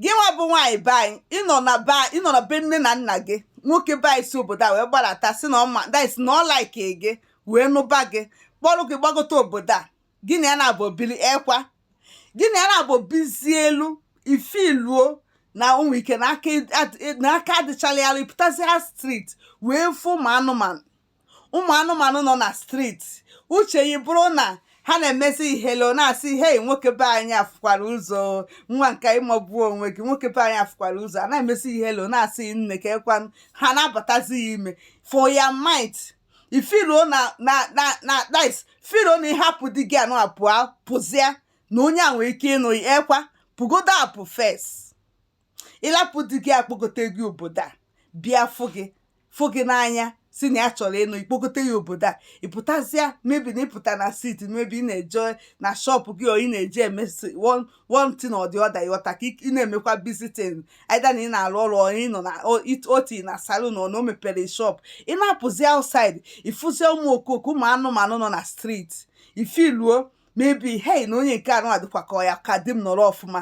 gị nwa bụ nwaanyị be anyị ịnọ na be nne na nna gị nwoke be anyị si obodo a wee gbalata sị na ọ ma that's na ọ like gị wee nụba gị kpọrọ gị gbagote obodo a gị na ya naabọ bili ekwa gị na ya naabọ bizie elu ị feeluo na o nwee ike na aka adịchala ya ịpụtazịa street wee fụ ụmụ anụmanụ ụmụ anụmanụ nọ na streeti uche gị bụrụ na ha na-emezi ị hello na-asị hei nwoke be anyị afụkwara ụzọ nwa nke ịmagbuo onwe gị nwoke be anyị afụkwara ụzọ a na-emezi ị hello na-asị nne kee kwanụ ha na-abatazi ị ime for your mind ị feeluo na that's feeluo na ịhapụ di gị anụa pụa pụzịa na onye a nwere ike ịnụ ị ekwa pụgodo apụ first ịlapụ di gị a kpọgote gị obodo a bịa fụ gị fụ gị n'anya sị na ya chọrọ ịnụ ị kpọgote ị obodo a ịpụtazịa maybe na ịpụta na street maybe ị na-eje na shop gị or ị na-eje emesị one thing or the other ịghọta ka ị na-emekwa visiting either na ị na-arụ ọrụ ịnọ na oti na salon or na o mepere shop ị na-apụzi outside ịfụzie ụmụ okooko ụmụ anụmanụ nọ na street ị feeluo maybe hei na onye nke anụa dịkwa ka ọ ya-aka di m nọrọ ọfụma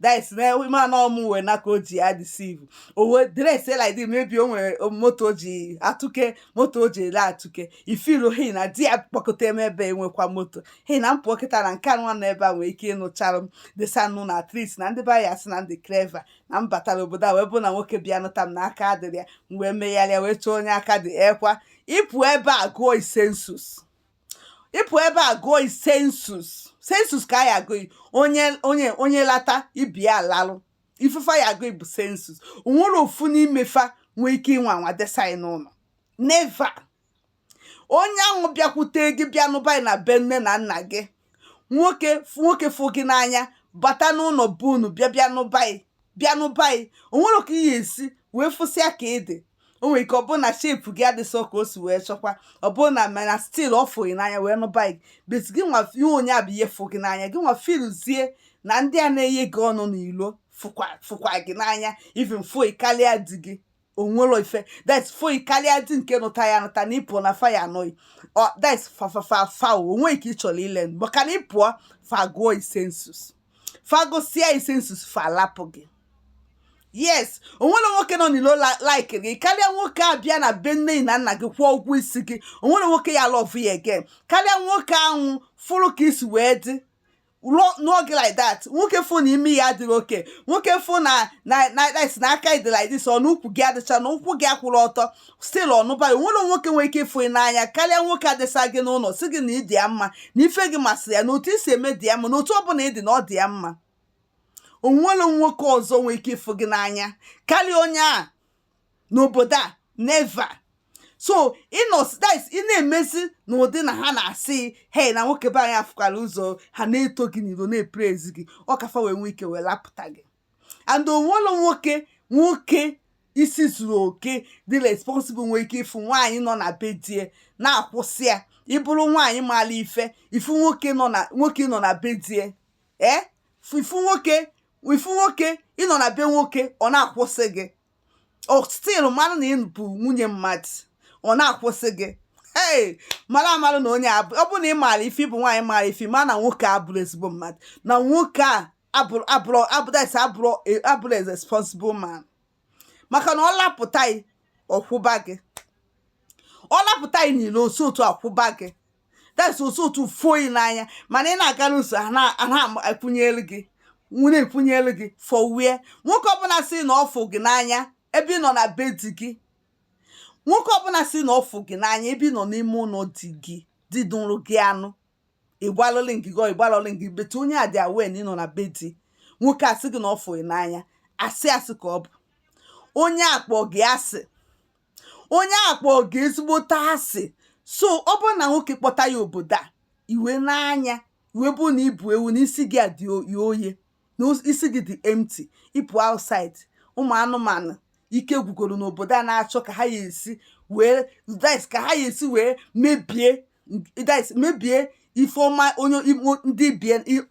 that's na ma na ọmụ wee na ka o ji ya deceive o wee dress like this maybe o nwere moto o ji atụke moto o ji ele atụke ị feeluo hei na di a kpọgote m ebe a enwekwa moto hei na m pụ kịta na nke nwa na ebe a nwee ike ịnụchara m desa n'ụnọ at least na ndị be anyị asị na m dị clever na m batara obodo a wee bụ na nwoke bịa nụta m na aka adịrọ ya m wee megharịa wee chọọ onye aka dị ekwa ịpụ ebe a gụọ ị census ịpụ ebe a gụọ ị census census ka a ya-agụ ị onye lata ibe ya lalụ ife fa ya-agụ bụ census onwerọ ofu n'ime fa nwee ike ịnwa anwa desa ị n'ụnọ never onye ahụ bịakwute gị bịa nụba na be nne na nna gị nwoke fụ gị n'anya bata n'ụnọ be unu bịa bịa nụba bịa nụba ị o nwere ka ihe esi wee fụsịa ka ị dị o nwere ike ọ bụrụ na shape gị adịsọ ka o si wee chọkwa ọ bụrụ na mana still ọ fụ gị n'anya wee nụba gị but gị nwa ihe onye a bịa fụ gị n'anya gị nwa feeluzie na ndị a na-enye gị ọnụ n'ilo fụkwa gị n'anya even fụ gị karịa di gị onwerọ ife that's fụ gị karịa di nke nụta ị anụta na ịpụọ na fa ya-anụ gị that's fa o nwee ike ịchọrọ ile maka na ịpụọ fa gụọ ị census fa gụsịa ị census fa lapụ gị yes onwerọ nwoke nọ n'ilo like gị karịa nwoke a bịa na be nne na nna gị kwụọ ụgwọ isi gị onwerọ nwoke ya-alove ị again karịa nwoke ahụ fụrụ ka ị si wee dị n'oge like that nwoke fụ na imi gị adịrị okay nwoke fụ na na na si na aka gị dị like this ọnụ ukwu gị adịcha na ụkwụ gị akwụrụ ọtọ still ọ nụba gị onwere nwoke nwere ike ịfụ n'anya karịa nwoke a dịsa gị n'ụlọ sị gị na ị dị ya mma na ife gị masịrị ya na otu i si eme dị ya mma na otu ọ bụla ị dị na ọ dị ya mma onwere nwoke ọzọ nwere ike ịfụ gị n'anya karịa onye a n'obodo a never so ị na-emezi n'ụdị na ha na-asị hei na nwoke be anyị afụkwara ụzọ ha na-eto gị n'iro na-epraise gị ọ ka fa wee nwee ike wee lapụta gị and onwere nwoke nwoke isi zuru oke dị responsible nwee ike ịfụ nwaanyị nọ na be di ya na-akwụsị ya ị bụrụ nwaanyị maara ife ị fụ nwoke nọ na be di ya ee ị fụ nwoke ị fụ nwoke ị nọ na be nwoke ọ na-akwụsị gị ọ still mara na ị bụ nwunye mmadụ ọ na-akwụsị gị ee mara amalụ na onye a bụ ọ bụrụ na ị maara ife ị bụ nwaanyị maara ife ma na nwoke a abụrụ ezigbo mmadụ na nwoke a abụrụ a responsible man maka na ọ lapụta gị ọ kwụba gị ọ lapụta gị niile otu otu akwụba gị that's otu otu fụ gị n'anya mana ị na-aga n'ụzọ a na-ekwunyelu gị nwere ekwunyelu gị for where nwoke ọbụla sị na ọ fụ gị n'anya ebe ị nọ na be di gị nwoke ọbụla sị na ọ fụ gị n'anya ebe ị nọ n'ime ụlọ di gị di dụrụ gị anụ ịgbalụlị ngị gọ ịgbalụlị ngị better onye a dị aware na ị nọ na be di nwoke asị gị na ọ fụ gị n'anya asị asị ka ọ bụ onye a kpọ gị asị onye a kpọ gị ezigbote asị so ọ bụrụ na nwoke kpọta ya obodo a iwe n'anya iwe bụ na ị bụ ewu na isi gị dị oye na isi gị dị empty ị pụ outside ụmụ anụmanụ ike gwụgoro n'obodo a na-achọ ka ha ya esi wee ka ha ya esi wee mebie guys mebie ife ọma onye ndị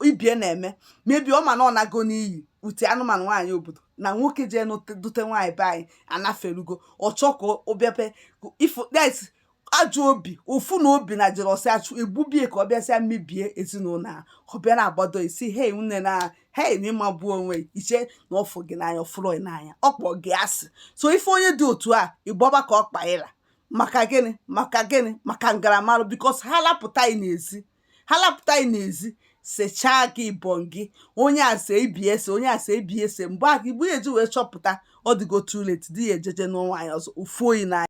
ibe ya na-eme mebie ọ ma na ọ nago n'iyi ụdị anụmanụ nwaanyị obodo na nwoke jee dute nwaanyị be anyị anaferugo ọ chọ ka ọ bịape ifo guys ajọ obi ụfụ na obi na jealousy achụ egbubie ka ọ bịasịa mebie ezinụlọ a ọ bịa na-agbado isi hei nne na hei na ị magbuo onwe i che na ọ fụ gị n'anya ọ fụrụ n'anya ọ kpọ gị asị so ị fụ onye dị otu a ị gbaba ka ọkpa gị ra maka gịnị maka gịnị maka ngaramarụ because ha lapụta gị n'ezi ha lapụta gị n'ezi sechaa gị ịbọn gị onye a see ibe ya see onye a see ibe ya see mgbe a igbu ya eji wee chọpụta ọ dịgo too late di ya ejeje nụọ nwaanyị ọzọ ọ fụrọ gị n'anya